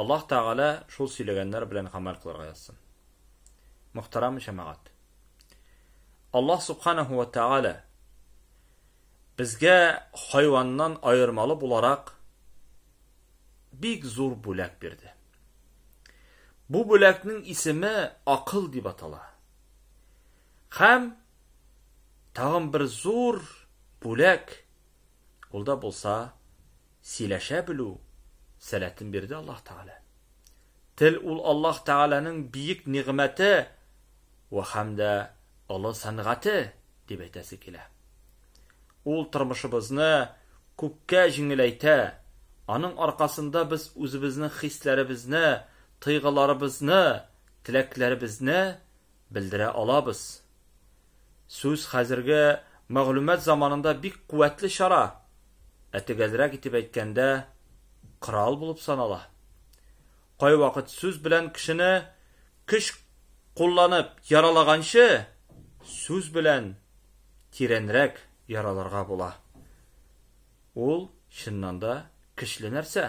Аллаһ Тәгалә шул сөйләгәннәр белән гамәл кылырга язсын. Мөхтәрәм җәмәгать. Аллаһ Субханаһу ва Тәгалә безгә хайваннан аермалы буларак бик зур бүләк бирде. Бу бүләкнең исеме акыл дип атала. Хәм тагын бер зур бүләк ул да булса Сөйләшә белү сәләтен бирде Аллаһ Тәгалә. Тел ул Аллаһ Тәгаләнең биек нигъмәте вә һәм дә олы сәнгате, дип әйтәсе килә. Ул тормышыбызны күпкә җиңеләйтә, аның аркасында без үзебезнең хисләребезне, тойгыларыбызны, теләкләребезне белдерә алабыз. Сүз хәзерге мәгълүмат заманында бик куәтле чара, ә төгәлрәк итеп әйткәндә, корал булып санала. Кайвакыт сүз белән кешене көч кулланып яралаганчы, сүз белән тирәнрәк яраларга була. Ул, чыннан да, көчле нәрсә.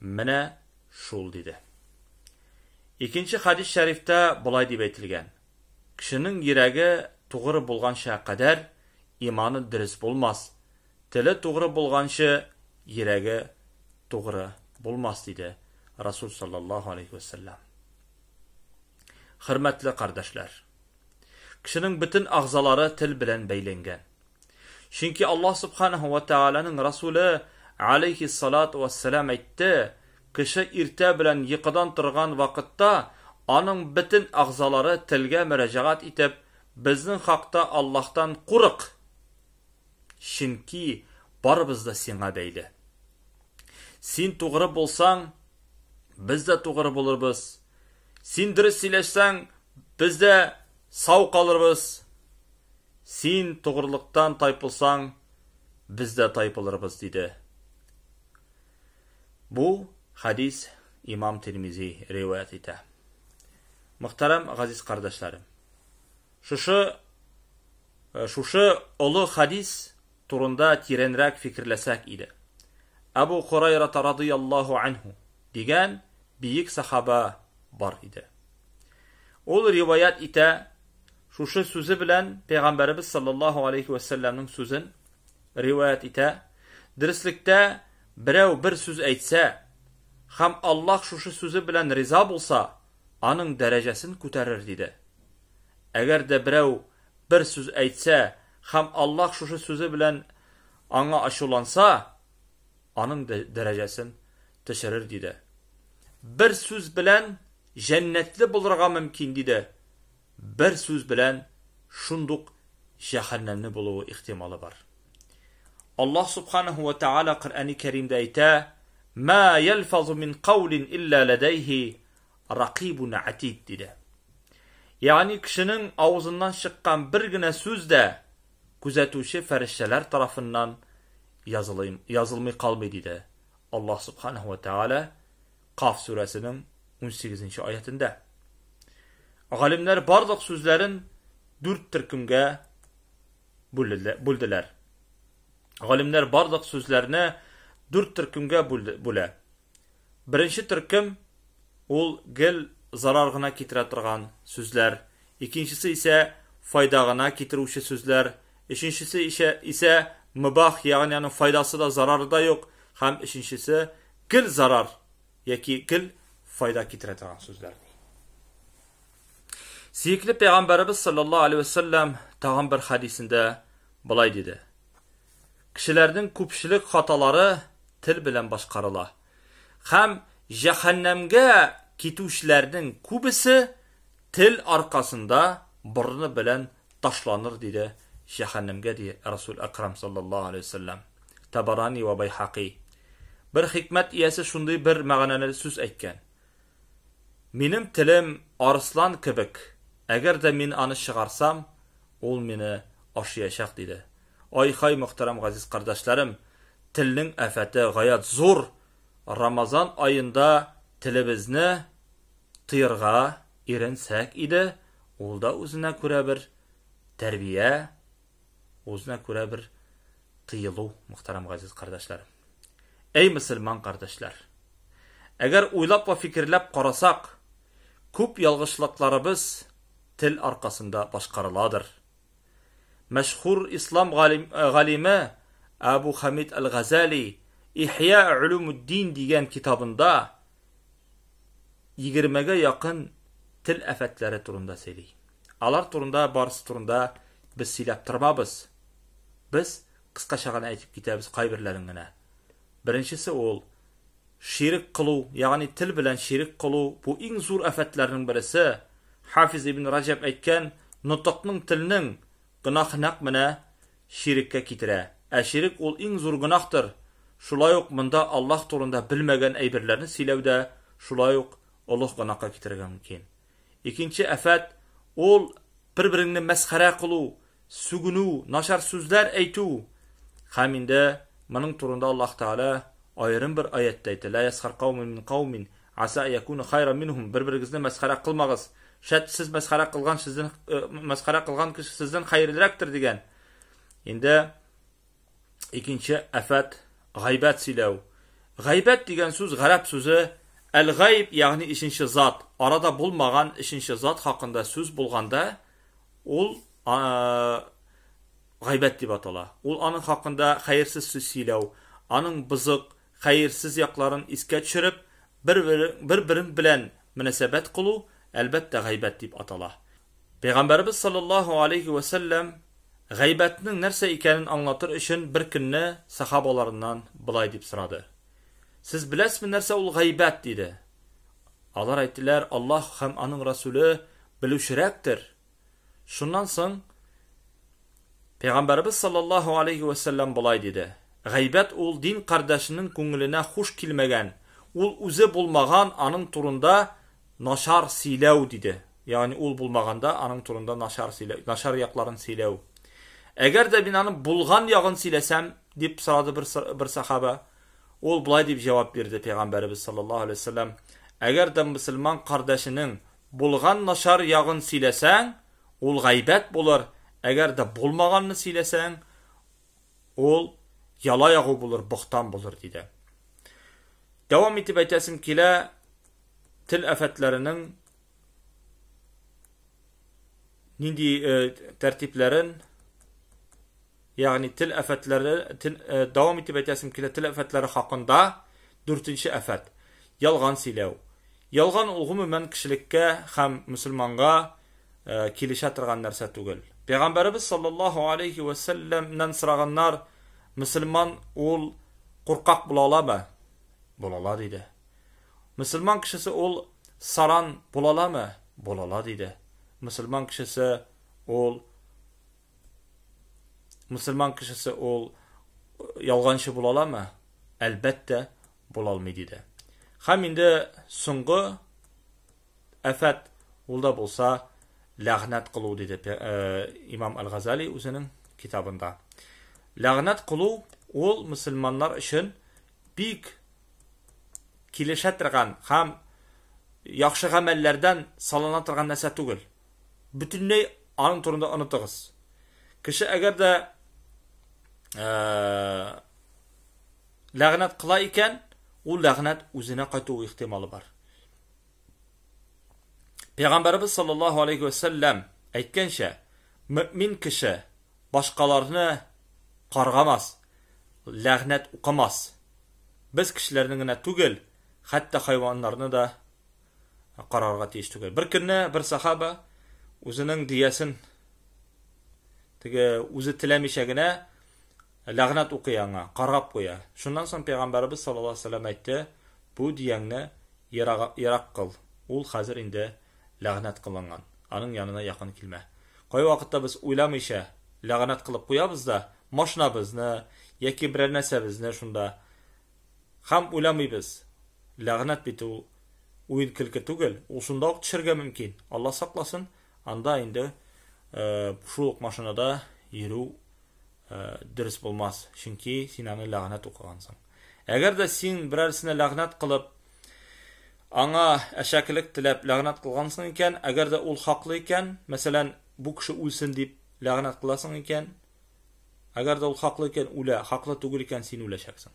Менә шул, диде. Икенче хәдис шәрифтә болай дип әйтелгән, Кешенең йөрәге тугры булганча кадәр иманы дөрес булмас, теле тугры булганчы йөрәге тугры булмас, диде Расул саллаллаһу алейһи вә сәлләм. Хөрмәтле кардәшләр! Кешенең бөтен агъзалары тел белән бәйләнгән. Чөнки Аллаһ субханаһу ва тәгаләнең Расуле алейһиссалату вассалам әйтте, кеше иртә белән йокыдан торган вакытта аның бөтен әгъзалары телгә мөрәҗәгать итеп, безнең хакта Аллаһтан курык! Чөнки барыбыз да сиңа бәйле. Син тугры булсаң, без дә тугры булырбыз. Син дөрес сөйләшсәң, без дә Сау калырбыз! Син тогрылыктан тайпылсаң, без дә тайпылырбыз, диде. Бу хәдис имам Тирмизи риваять итә. Мөхтәрәм газиз кардәшләрем! Шушы, шушы олы хәдис турында тирәнрәк фикерләсәк иде. Әбу Корайрата радыйаллаһу анһу дигән биек сахаба бар иде. Ул риваят итә, шушы сүзе белән Пәйгамбәребез саллаллаһу алейхи ва саллямның сүзен риваят итә. Дөреслектә берәү бер сүз әйтсә, һәм Аллаһ шушы сүзе белән риза булса, аның дәрәҗәсен күтәрер диде. Әгәр дә берәү бер сүз әйтсә, Һәм Аллаһ шушы сүзе белән аңа ачуланса, аның дәрәҗәсен төшерер, диде. Бер сүз белән җәннәтле булырга мөмкин, диде. Бер сүз белән шундук җәһәннәмне булуы ихтималы бар. Аллаһ субханаһу ва тааля Коръәни Кәримдә әйтә: "Ма ялфазу мин каулин илля ладайһи Ракыйбун әтид, диде. Ягъни кешенең авызыннан чыккан бер генә сүз дә күзәтүче фәрештәләр тарафыннан язылый, язылмый калмый, диде Аллаһ Субханаһу ва Тааля Каф сүрәсенең 18-нче аятендә. Галимнәр барлык сүзләрен дүрт төркемгә бүлделәр. Галимнәр барлык сүзләрне дүрт төркемгә бүлә. Беренче төркем, ул гел зарар гына китерә торган сүзләр, икенчесе исә файда гына китерүче сүзләр, өченчесе ишә, исә мөбах, ягъни аның файдасы да, зарары да юк, һәм өченчесе гел зарар яки гел файда китерә торган сүзләр, ди. Сөекле пәйгамбәребез саллаллаһу алейһи вә сәлләм тагын бер хәдисендә болай диде, Кешеләрнең күпчелек хаталары тел белән башкарыла. Һәм җәһәннәмгә китүчеләрнең күбесе тел аркасында борыны белән ташланыр, диде, җәһәннәмгә, ди Расул Әкрам саллаллаһу алейһи ва сәлләм. Табарани вә Байһакый. Бер хикмәт иясе шундый бер мәгънәле сүз әйткән. Минем телем арыслан кебек, әгәр дә мин аны чыгарсам, ул мине ашыячак, диде. Ай-хай, мөхтәрәм газиз кардәшләрем, телнең афәте гаять зур, Рамазан аенда телебезне тыерга иренсәк иде, ул да үзенә күрә бер тәрбия. Үзенә күрә бер тыелу, мөхтәрәм газиз кардәшләрем. Әй мөселман кардәшләр! Әгәр уйлап ва фикерләп карасак, күп ялгышлыкларыбыз тел аркасында башкарыладыр. Мәшһүр ислам галиме Абу Хамид әл-Газали Ихья улумуддин дигән китабында 20 гә якын тел афәтләре турында сөйли. Алар турында барысы турында без сөйләп тормабыз. Без кыскача гына әйтеп китәбез кайберләрен генә. Беренчесе ул ширек кылу, ягъни тел белән ширек кылу, бу иң зур афәтләрнең бересе. Хафиз ибн Раҗаб әйткән, нотыкның телнең гөнаһы нәкъ менә ширеккә китерә. Ә ширек ул иң зур гөнаһтыр. Шулай ук монда Аллаһ турында белмәгән әйберләрне сөйләү дә шулай ук олуг гөнаһка китерергә мөмкин. Икенче афәт, ул бер-береңне мәсхәрә кылу, сүгенү, начар сүзләр әйтү. Һәм инде моның турында Аллаһ Тәгалә аерым бер аятьтә әйтә, Лә ясхар каумин мин каумин, аса ан якуну хайран минһум, бер-берегезне мәсхәрә кылмагыз, шәт сез мәсхәрә кылган сездән мәсхәрә кылган кеше сездән хәерлерәктер дигән. Инде Икенче афәт гайбәт сөйләү. Гайбәт дигән сүз гарәп сүзе әл-гайб, ягъни ишенче зат, арада булмаган ишенче зат хакында сүз булганда, ул гайбәт дип атала. Ул аның хакында хәерсез сүз сөйләү, аның бызык, хәерсез якларын искә төшереп, бер-берең белән мөнәсәбәт кылу, әлбәттә, гайбәт дип атала. Пәйгамбәребез салләллаһу алейһи вә сәлләм гайбәтнең нәрсә икәнен аңлатыр өчен бер көнне сахабаларыннан болай дип сорады. Сез беләсезме нәрсә ул гайбәт? диде. Алар әйттеләр, Аллаһ һәм аның Расуле белүчерәктер. Шуннан соң Пәйгамбәребез салләллаһу алейһи вә сәлләм болай диде. Гайбәт ул дин кардәшенең күңеленә хуш килмәгән, ул үзе булмаган аның турында Начар сөйләү, диде. Ягъни ул булмаганда аның турында начар сөйләү, начар якларын сөйләү. Әгәр дә мин аның булган ягын сөйләсәм, дип сорады бер, бер сахаба. Ул болай дип җавап бирде пәйгамбәребез саллаллаһу алейһи вәсәлләм, әгәр дә мөселман кардәшенең булган начар ягын сөйләсәң, ул гайбәт булыр, әгәр дә булмаганны сөйләсәң, ул яла ягу булыр, бохтан булыр, диде. Дәвам итеп әйтәсем килә, тел афәтләренең нинди э, тәртипләрен, ягъни тел афәтләре, тел, э, дәвам итеп әйтәсем килә, тел афәтләре хакында 4-нче афәт. Ялган сөйләү. Ялган ул гомумән кешелеккә һәм мусульманга э, килешә торган нәрсә түгел. Пәйгамбәребез саллаллаһу алейхи ва салламнан сораганнар, мусульман ул куркак була аламы? Була ала диде. Мусульман кешесе ул саран була аламы? Була ала диде. Мусульман кешесе ул мусульман кешесе ул ялганчы була аламы? Әлбәттә, була алмый диде. Хәм инде соңгы Афәт, ул да булса ләгънәт кылу, диде имам Әл-Газали үзенең китабында. Ләгънәт кылу ул мөселманнар өчен бик килешә торган һәм яхшы гамәлләрдән салына торган нәрсә түгел. Бөтенләй аның турында онытыгыз. Кеше әгәр дә э, ләгънәт кыла икән, ул ләгънәт үзенә кайту ихтималы бар. Пәйгамбәрбез саллаллаһу алейхи ва сәлләм әйткәнчә, мөэмин кеше башкаларны каргамас, ләгънәт укымас. Без кешеләрне генә түгел, хәтта хайваннарны да карарга тиеш түгел. Бер көнне бер сахаба үзенең диясен теге үзе теләмичә генә Ләгънәт укый аңа, каргап куя. Шуннан соң пәйгамбәребез саллаллаһу алейһи ва сәлләм әйтте, Бу дияңне ерак, ерак кыл, ул хәзер инде ләгънәт кылынган, аның янына якын килмә. Кайвакытта без уйламыйча ләгънәт кылып куябыз да, машинабызны яки берәр нәрсәбезне шунда һәм уйламыйбыз, ләгънәт бит ул уен-көлке түгел, ул шунда ук төшәргә мөмкин. Алла сакласын, анда инде шул ук машинада йөрү дөрес булмас, чөнки син аны ләгънәт укыгансың. Әгәр дә син берәрсенә ләгънәт кылып, аңа әшәкелек теләп ләгънәт кылгансың икән, әгәр дә ул хаклы икән, мәсәлән, бу кеше үлсен дип ләгънәт кыласың икән, әгәр дә ул хаклы икән, үлә, хаклы түгел икән, син үләчәксең.